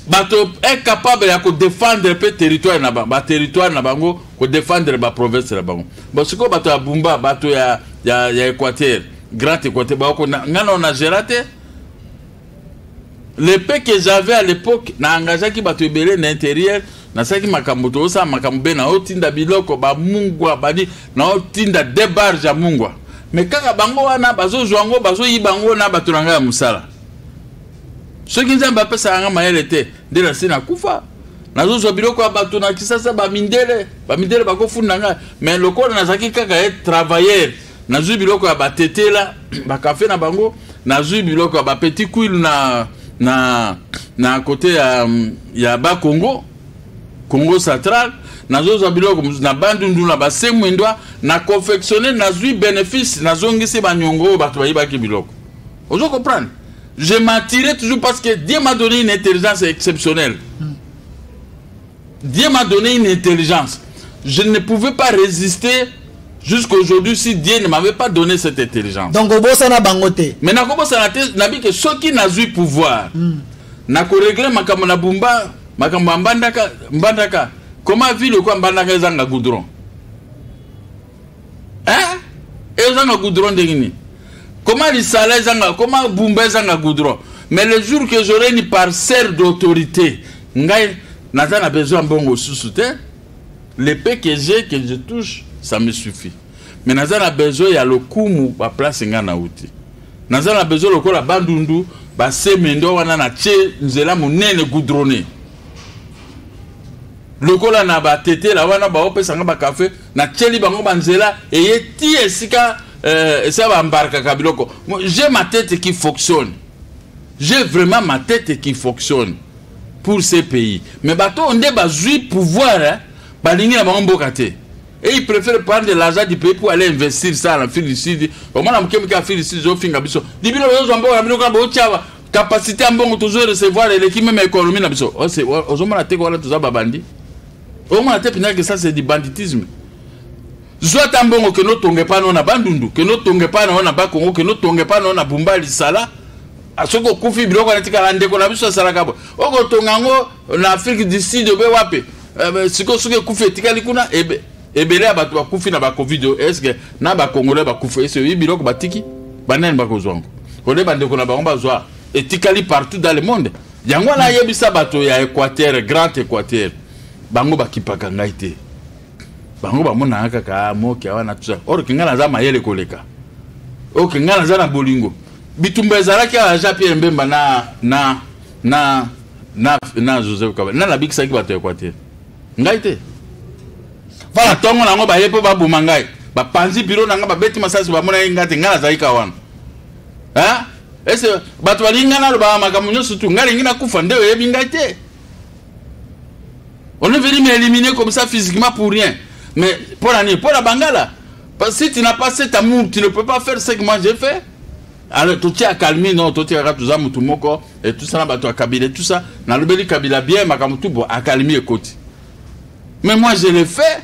bato incapable ya kodefendre mpe territoire na bango baterritoire na bango kodefendre baprovince na bango bon sikoyo bato ya bumba bato ya, ya, ya équateur grand équateur baoko ngai nao na gera te le pe que j'avais à l'époque na engageaki bato ebele na intérieur nasalaki makambo tozosala makambo be naotinda biloko bamungwa bani naotinda debarge ya mungwa me kaka bango wana bazozwa yango bazoyiba yango na bato na ngai ya mosala soki nzambe apesaka nga mayele te nde nasi nakufa nazozwa biloko ya bato na kisasa bamindele bamindele bakofunda ngai me lokola nazalaki kaka ye travailleur nazwi biloko ya batetela bakafe na bango nazwi biloko ya bapetit kuile na, na, na kote ya, ya bakongo congo central nazozwa biloko mosusu na bandundu na basemwindwa na confectionne nazwi benefice nazongisi banyongo oyo bato bayibaki biloko ozo comprendre je m'attirais toujours parce que Dieu m'a donné une intelligence exceptionnelle. Dieu m'a donné une intelligence. Je ne pouvais pas résister jusqu'à aujourd'hui si Dieu ne m'avait pas donné cette intelligence. Donc, obosana bangote. Mais na kobosana te, na bi que ceux qui n'a eu pouvoir, hmm. na ko régler makambo na bumba, makambo mbandaka, mbandaka. Comment ville quoi mbandaka ezanga goudron? eh ezanga goudron ndenge nini koma lisala ezanga koma bumba ezanga goudron mais le jour que j'aurai une parcelle d'autorité ngai naza na besoin ya mbongo susu te le pe que j'ai que je touche ça me suffit mais naza na besoin ya lokumu baplace ngai nauti naza na besoin lokola bandundu basemendo wana na tie nzela monene goudronne lokola na batetela wana baopesanga bakafe natyeli bango banzela eye ti esika euh, esika bambarkaka biloko je ma tete qui fonctionne je vraiment ma tete qui fonctionne pour ce pays mais bato oyo nde bazwi pouvoir eh, balingi na bango mboka te et il préfère prendre de l'argent du pays pour aller investir ça na fil du sud omona moke moke ya fil du sud ezofinga biso libino bozozwa mboka na bino kaka botyaba capacité ya mbongo tozo recevoir eleki meme économie na biso ozomona te wana toza babandi omona te mpenza ke ça c'est du banditisme zwa ata mbongo kende otonga epai nao na bandundu kende otonga epai nao na bakongo kende otonga epai nao na bumba lisala ah, soki okufi biloko wana etikala ndeko na biso asalaka bo okotonga yango na afrique du sud obe wapi eh, sikoyo soki ekufi etikali kuna ebe ebele ya bato bakufi na bacovid oyo eske na bacongolais bakufi ese oyebi biloko batiki banani bakozwa yango ole bandeko na bango bazwa etikali partout dans le monde yango wana ayebisa bato ya equateur grand equateur bango bakipaka ngai te bango bamonaka kaka ah, moke awa na tusa orke ngai naza mayele koleka oke ngai naza na bolingo bitumba ezalaki awa jean pierre mbemba na na na na na joseph kaba na nabikisaki bato ya equateur ngai te mpona ntongo na yango baye mpo baboma ngai bapanzi biro na ngai babeti masasi bamonaki ngai te ngai nazalika wana ese bato balingi ngai nalobaka makambo nyonso tu ngai lingi nakufa nde oyebi ngai te on est venu m'éliminer comme ça physiquement pour rien mais mpo na nini mpo na bangala si tu n'as pas cet amour tu ne peux pas faire ce que moi j'ai fait alors totie akalmi no totiaka toza motu moko etusa na bato ya kabila etusa nalobeli kabila bien makambo tu bo akalmi ekoti mais moi je le fais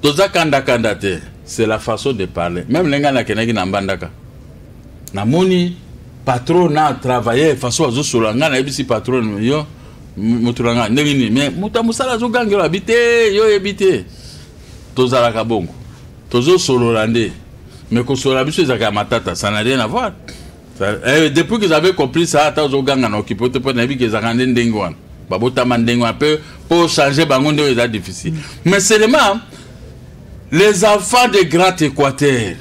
toza kandakanda te c'est la façon de parler même ndenge nakendaki na mbandaka namoni patron na travailleur façon azosolola ngai nayebisi patron yo moto na ngai ndenge nini mais moto ya mosala azogangela abi te yo oyebi te tozalaka bongo tozosolola nde mais kosolola biso ezalaka ya matata ça na rien avoir Eh, depuis qu'ils avaient compris ça ata ozoganga na okipe te mpo nayebi kezaka nde ndenge wana babotama ndenge wana mpe mpo change bango nde oyo eza difficile mais seulement les enfants de grand équateur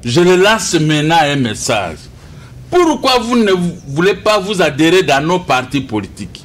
je le lance maintenant un message pourquoi vous ne voulez pas vous adhérer dans nos partis politiques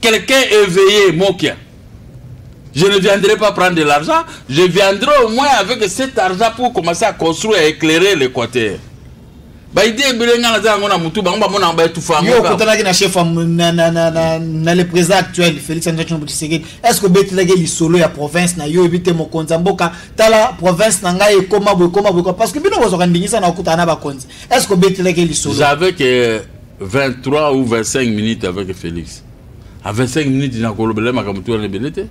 Quelqu'un éveillé, Mokia. Je ne viendrai pas prendre de l'argent, je viendrai au moins avec cet argent pour commencer à construire et éclairer l'Équateur. baide ebele ngai naza yango na motu bango bamonaka baetufayo okotanaki na chef na le président actuel félix antoine tshisekedi est ce que obetelaki lisolo ya province na yo oyebi te mokonzi ya mboka tala province na ngai ekoma boye ekoma boye parce que bino bozwaka ndingisa na okutana na bakonzi est ce que obetelaki lisolo 23 ou 25 minutes avec Félix. À 25 minutes, il n'a pas le makambo tout rebelete.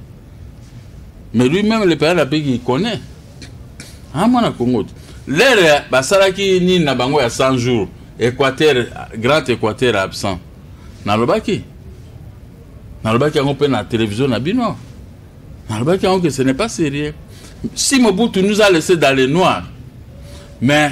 Mais lui-même, le père pays qu'il connaît. Ah, moi, na Congo. L'air, bah, ça là qui ni na bango à 100 jours. Équateur, grand Équateur absent. Na lobaki. Na lobaki en peine la télévision na bino. Na lobaki en que ce n'est pas sérieux. Si Mobutu nous a laissé dans les noirs, mais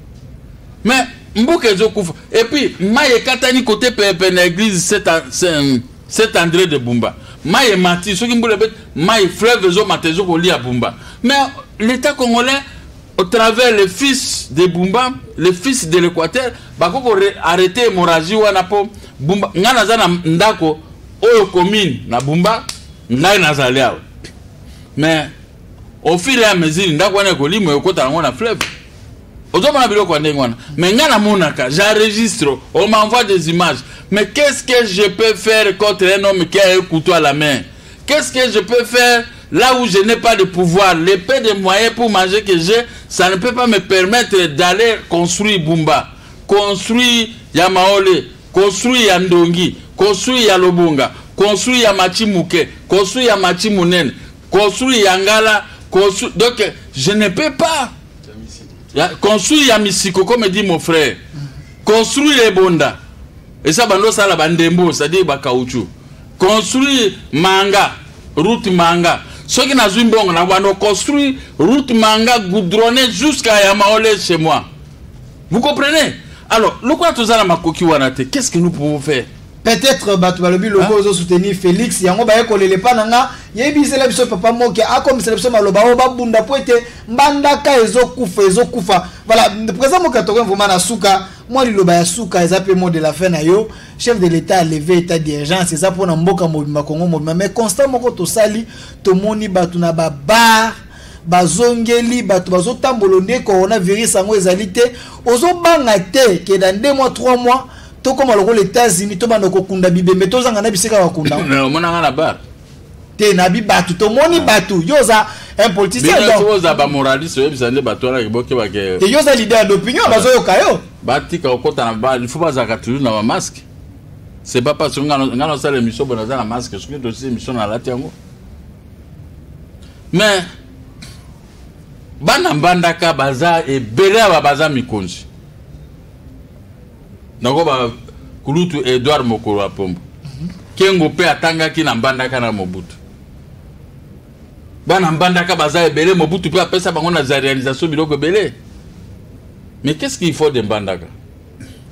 mais mboka ezokufa et puis mai ekatani kote pepe na église saint andré de bumba mai emati soki mbula ebeti mai fleuve ezomata ezokolia bumba mais l'état congolais au travers le fils de bumba le fils de l'équateur bakoki arrete hémorragie wana mpo bumba ngai naza na ndako oyo commune na bumba ngai nazali awa mais au fur et à mesure ndako wana ekolimo ekota nango na fleuve ozomona biloko ya ndenge wana mais ngai namonaka j'enregistre on m'envoie des images mais qu'est-ce que je peux faire contre un homme qui a un couteau à la main qu'est-ce que je peux faire là où je n'ai pas de pouvoir les peu de moyens pour manger que j'ai ça ne peut pas me permettre d'aller construire bumba construire ya maole construire ya ndongi construire ya lobonga construire ya machi moke construire ya machi monene construit ya ngala construit donc je ne peux pas ya, construit ya misiko comme dit mon frère construit ebonda esa bando osala bandembo c'est-à-dire bakauchu construit manga route manga soki nazwi mbongo na bando construit route manga goudronne jusqu'à yamaole chez moi Vous comprenez Alors, lokola toza na makoki wana te, qu'est-ce que nous pouvons faire peut-être bato balobi loko ozo soutenir félix yango baye kolele epa na nga yebisela biso papa moke akomisela biso maloba oyo babunda mpo ete mbandaka ezokufa ezokufa voilà président moke atokomi vraimen na suka mwa liloba ya suka eza mpe mot de la fin na yo chef de l'état aleve état d'urgence eza mpo na mboka mobimba kongo mobimba mais constat moko tosali tomoni bato na babar bazongeli bato bazotambolo nde coronavirus yango ezali te ozobanga te ke na nde mwa 3 mois tokóma lokola états-unis tobanda kokunda bibembe tozanga na bisika bakunda omonanga na bar te nabi bato tomoni ah. bato yo oza un politicien oza bamoraliste oyebisa nde bato wana bokebake te yo oza leader d'opinion ah. bazoyoka yo batika kokota na bar il faut bazalaka toujours na bamaske c'est pas parce que nga nasala émission boye naza na maske soki tosi émission nalati yango mais bana mbandaka baza ebele aba baza mikonzi nako ba kulutu edward mokolo ya pombo mhm. kengo mpe atangaki na mbandaka na mobutu bana mbandaka baza ebele mobutu mpe apesa bango na za réalisation biloko ebele mais qu'est ce qu'il faut de mbandaka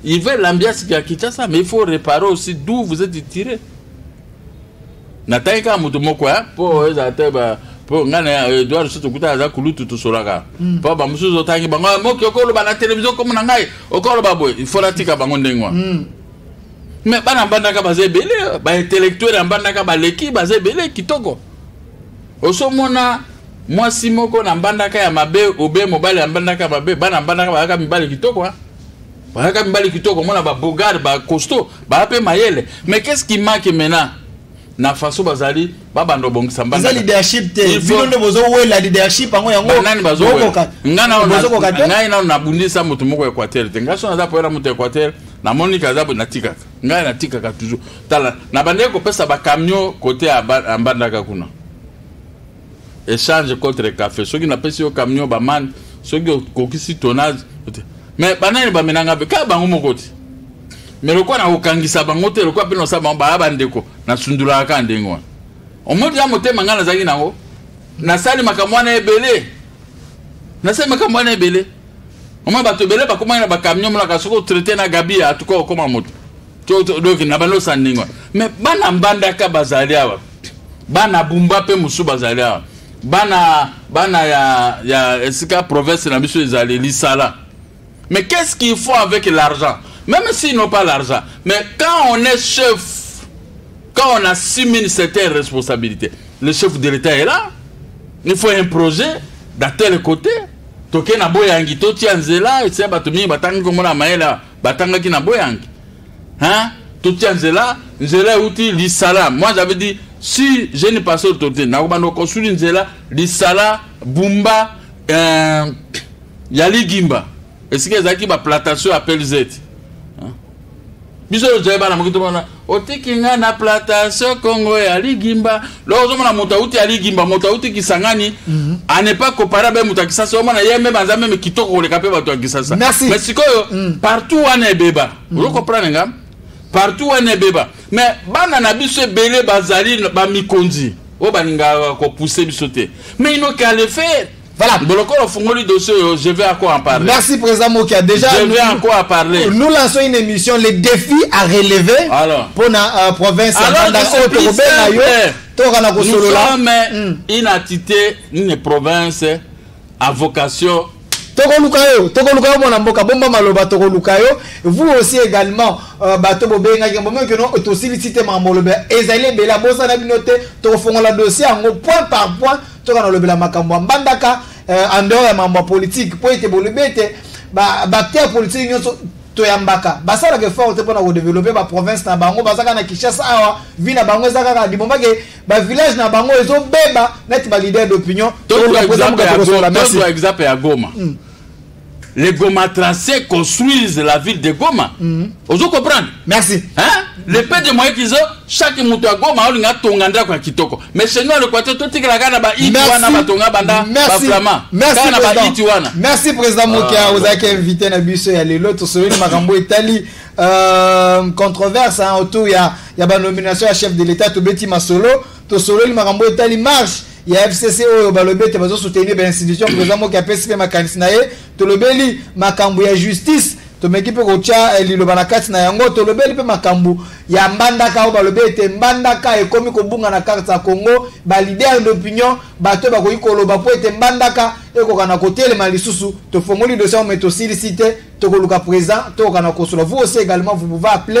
Il veut l'ambiance qui a quitté ça, mais il faut réparer aussi d'où vous êtes tiré. natangi kaka moto moko ya mpo ezala te mpo ngai na edouard lisusu tokuta aza kulutu tosolaka mpo bamosusu otangi bango moki okoloba na televizio komo na ngai okoloba boye ifo natika bango ndenge wana mais bana mbandaka baza ebele baintellectuel ya mbandaka baleki baza ebele kitoko osomona mwasi moko na mbandaka ya mabe obe mobali ya mbandaka ya mabe bana mbandaka bayaka mibali kitoko bayaka mibali kitoko omona babogard bacosto baya mpe mayele mais qu'est ce qui manque maintenant na faso bazali babanda obongisa mbanda eza leadership te bino nde bozowela leadership yango yangonani bazokoka ngai nano nabundisa moto moko equateur te ngai so naza poyela moto equateur namoni kaza natikaka ngai natikaka toujours tala na bandeki kopesa bacamion kote ya mbandaka kuna échange contre café soki napesi yo camion bamani soki okokisi tonnage mais banani bamenanga mpe kaka bango moko te mais lokola nakokangisa bango te lokola mpe nosala bango baya bandeko nasundolaka kaka ndenge wana omoni ya motema ngai nazalaki nango nasali makambo wana ebele nasali makambo wana ebele Mama bato ebele bakomaki na bacamion molaka soki otraite na gabi ya atuka okoma moto doki na banosa ndenge wana mais bana mbandaka bazali awa bana bumba mpe mosusu bazali awa bana bana ya, ya esika province na biso ezali lisala mais qu'est-ce qu'il faut avec l'argent même s'ils n'ont pas l'argent mais quand on est chef quand on assume une certaine responsabilité le chef de l'état est là il faut un projet d'un tel côté toke na boyangi totia nzela ese bato mingi batangi nkombo na mayele batangaki na boyangi hein? totia nzela nzela euti lisala moi j'avais dit si je ne passe autorité nakobanda kosuli nzela lisala bumba euh, ya ligimba esika ezalaki baplantation ya pelzete biso oyo tozali bana moki tomona otiki nga na plantation kongo ya ligimba loko ozomona moto auti ya ligimba moto auti kisangani mhm. a ne pas compare abe moto ya kisasa omona ye meme aza meme kitoko koleka mpe bato ya kisasa mais sikoyo mm. partout wana ebeba mm. ozo comprendre nga partout wana ebeba mais bana na biso ebele bazali bamikonzi oyo balingaka kopousse biso te mais inoki alefere Voilà. Bolokolo Fungoli dossier, oh, je vais encore en parler. Merci Président Mokia. Déjà, je vais encore en parler. Nous lançons une émission, les défis à relever Alors. pour la euh, province. Alors, dans ce plus simple, nous sommes mm. une entité, une province à vocation tokoluka yo tokoluka yo mwana mboka bomba maloba tokoluka yo vous aussi également euh, bato bobengaki yango meme keno tosilisi te makambo oloba ezali ebele abosana bino te tokofongola dossier yango point par point Toka nalobela makambo ya mbandaka eh, en dehors ya makambo ya politique mpo ete bolobi ete baacteur politique nyonso toyambaka basalaka effort te mpona kodevelope baprovince na bango baza kaka na kinshasa awa vi na bango eza kaka libomba ke bavillage na bango ezobeba neti balider d'opinion exemple ya goma hmm. les gomatracés construisent la ville de goma mm -hmm. ozo comprendre merci hein? le peu de moyen qu'ils ont chaque moto ya goma aolinga atonga ndako ya kitoko mais chez nous alokwate totikela kaka na baiti wana batonga banda baflama kaka na baiti wana merci président mokia ah, ozalaki invité na biso ya lelo tosololi makambo etali euh, controverse hein, autour ya, ya banomination ya chef de l'état tobeti masolo tosololi makambo etali marche ya fcc oyo balobi ete bazo soutenir bainstitution président moki apesi mpe makanisi na ye tolobeli makambo ya justice tomeki mpe kotya eh, liloba na kati na yango tolobeli mpe makambo ya mbandaka oyo balobi ete mbandaka ekomi kobunga na karte ya congo balider d'opinion bato bakoki koloba mpo ete mbandaka ekoka na kotelema lisusu tofongoli dossier yango me tosilisi te tokoluka présent tokoka na kosola vous aussi également vous pouvez appeler